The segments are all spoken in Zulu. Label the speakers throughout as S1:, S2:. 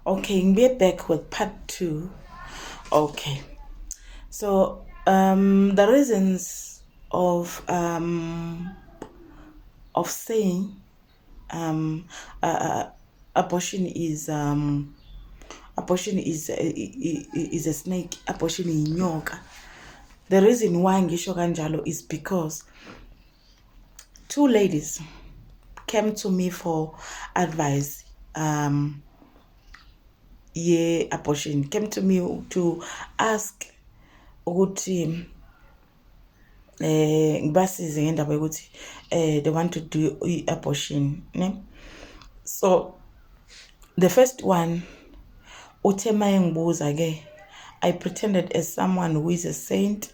S1: okay ngibuye back with part two okay so um the reasons of um of saying um uh, uh abortion is um abortion is uh, is a snake abortion yinyoka the reason why ngisho kanjalo is because two ladies came to me for advice um ye abortion came to me to ask ukuthi eh ngibasize ngendaba yokuthi eh they want to do abortion ne so the first one uthe mayengibuza ke i pretended as someone who is a saint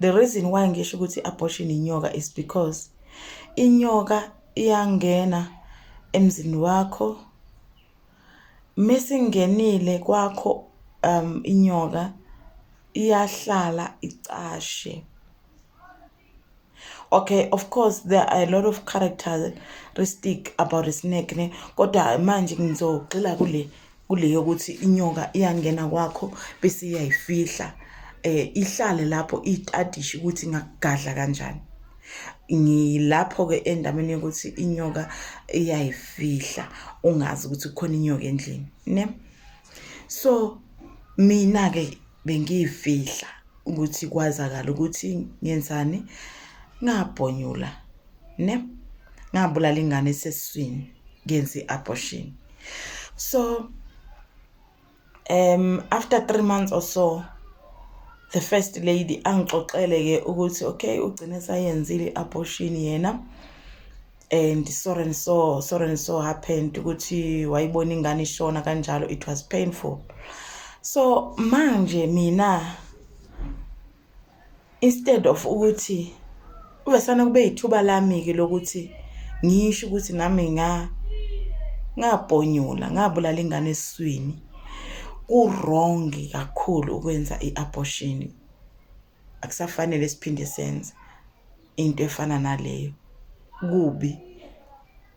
S1: the reason why ngisho ukuthi abortion inyoka is because inyoka iyangena emzini wakho mesingenile kwakho um inyoka iyahlala icashe okay of course there are a lot of characteristic about a snake ne kodwa manje ngizogxila kule kule yokuthi inyoka iyangena kwakho bese iyayifihla eh ihlale lapho itadishe ukuthi ngakugadla kanjani ngilapho ke endabeni yokuthi inyoka iyayifihla ungazi ukuthi kukhona inyoka endlini ne so mina ke bengiyifihla ukuthi kwazakala ukuthi ngenzani ngabhonyula ne ngabulala ingane eseswini ngenza i-abortion so um after three months or so the first lady angixoxele ke ukuthi okay ugcine sayenzile i-abortion yena and so and so so and so happened ukuthi wayibona ingane ishona kanjalo it was painful so manje mina instead of ukuthi uvesana kube yithuba lami-ke lokuthi ngisho ukuthi nami nga ngabhonyula ngabulala ingane esiswini ku-wrong kakhulu ukwenza i-abortion akusafanele siphinde senze into efana naleyo kubi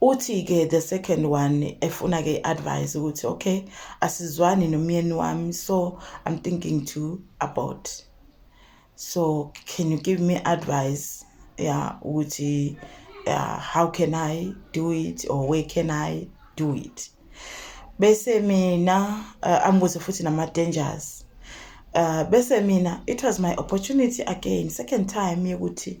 S1: uthi ke the second one efuna ke advice ukuthi okay asizwani nomyeni wami so i'm thinking to abort so can you give me advice yeah ukuthi uh, how can i do it or where can i do it bese mina uh, ambuze futhi nama dangers uh, bese mina it was my opportunity again second time yokuthi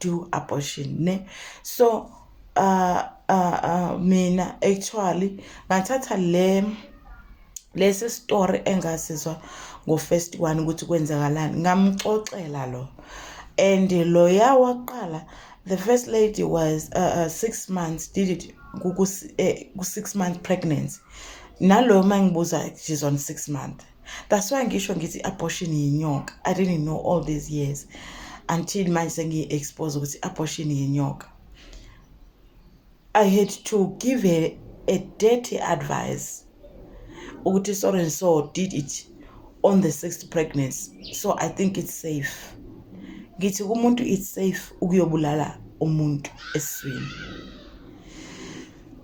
S1: do abortion ne so uh, uh, uh, mina actually ngathatha le lesi story engasizwa ngo first one ukuthi kwenzakalani ngamxoxela lo and loya waqala the first lady was uh, uh, six months did it ku-six eh, month pregnancy nalo uma ngibuza she's on six month that's why ngisho ngithi abortion yinyoka i didn't know all these years until manje sengiyi-expose ukuthi abortion yinyoka i had to give her a dirty advice ukuthi so and so did it on the sixth pregnancy so i think it's safe ngithi kumuntu it's safe ukuyobulala umuntu eswini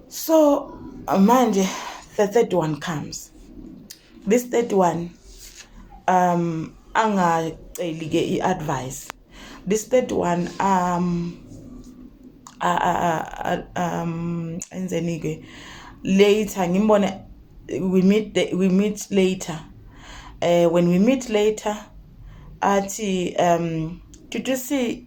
S1: so manje the third one comes this third one um angaceli ke iadvice this third one um a a um enzeni ke later ngimbone we meet we meet later uh, when we meet later athi um did you see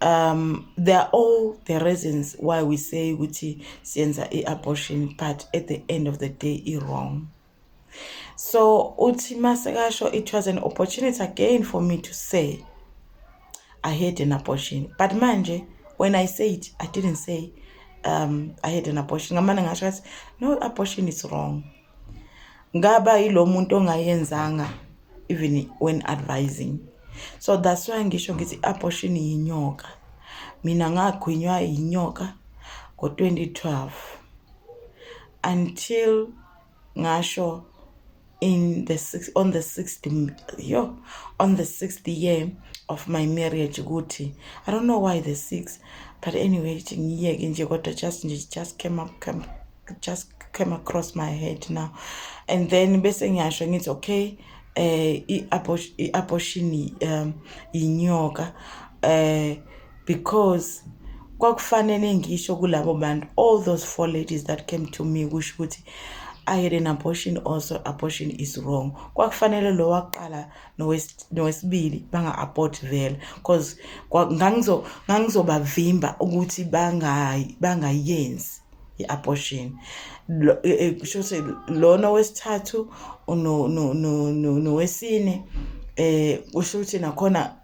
S1: um they are all the reasons why we say ukuthi siyenza i-abortion but at the end of the day i-wrong so uthi masekasho it was an opportunity again for me to say i had an abortion but manje when i say it i didn't say um i had an abortion ngamane ngasho kathi no abortion is wrong ngaba yilo muntu ongayenzanga even when advising so that's why ngisho ngithi abortion yinyoka mina ngagwinywa yinyoka ngo-2012 until ngasho in the six, on the sixth yo on the sixth year of my marriage ukuthi i don't know why the six but anyway ngiyeke nje kodwa just nje just came up came just came across my head now and then bese ngiyasho ngithi okay eh i-abortion um inyoka eh because kwakufanele ngisho kulabo bantu all those four ladies that came to me kusho ukuthi I had an abortion also abortion is wrong kwakufanele lo waqala nowesibili banga abort vele because ngangizo ngangizobavimba ukuthi bangayi bangayenzi i-abortion kusho ukuthi lona wesithathu nowesine eh kusho ukuthi nakhona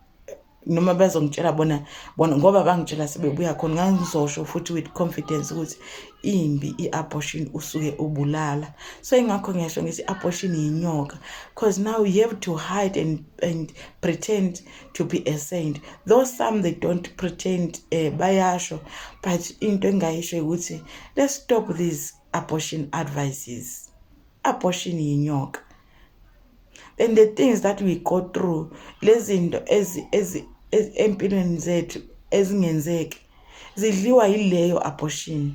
S1: noma bazongitshela bona bona ngoba bangitshela sebebuya khona ngangizosho futhi with confidence ukuthi imbi i-abortion usuke ubulala so ingakho ngiyasho ngithi i-abortion yinyoka because now you have to hide and, and pretend to be a saint though some they don't pretend uh, bayasho but into engayisho ukuthi let's stop these abortion advices abortion yinyoka and the things that we go through lezinto ezi ezi empilweni zethu ezingenzeki zidliwa yileyo abortion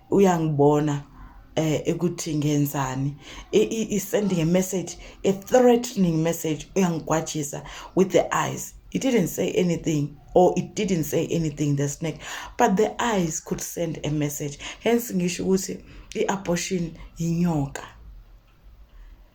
S1: uyangibona eh ukuthi ngenzani i sending a message a threatening message uyangigwajisa with the eyes it didn't say anything or it didn't say anything the snake but the eyes could send a message hence ngisho ukuthi i abortion inyoka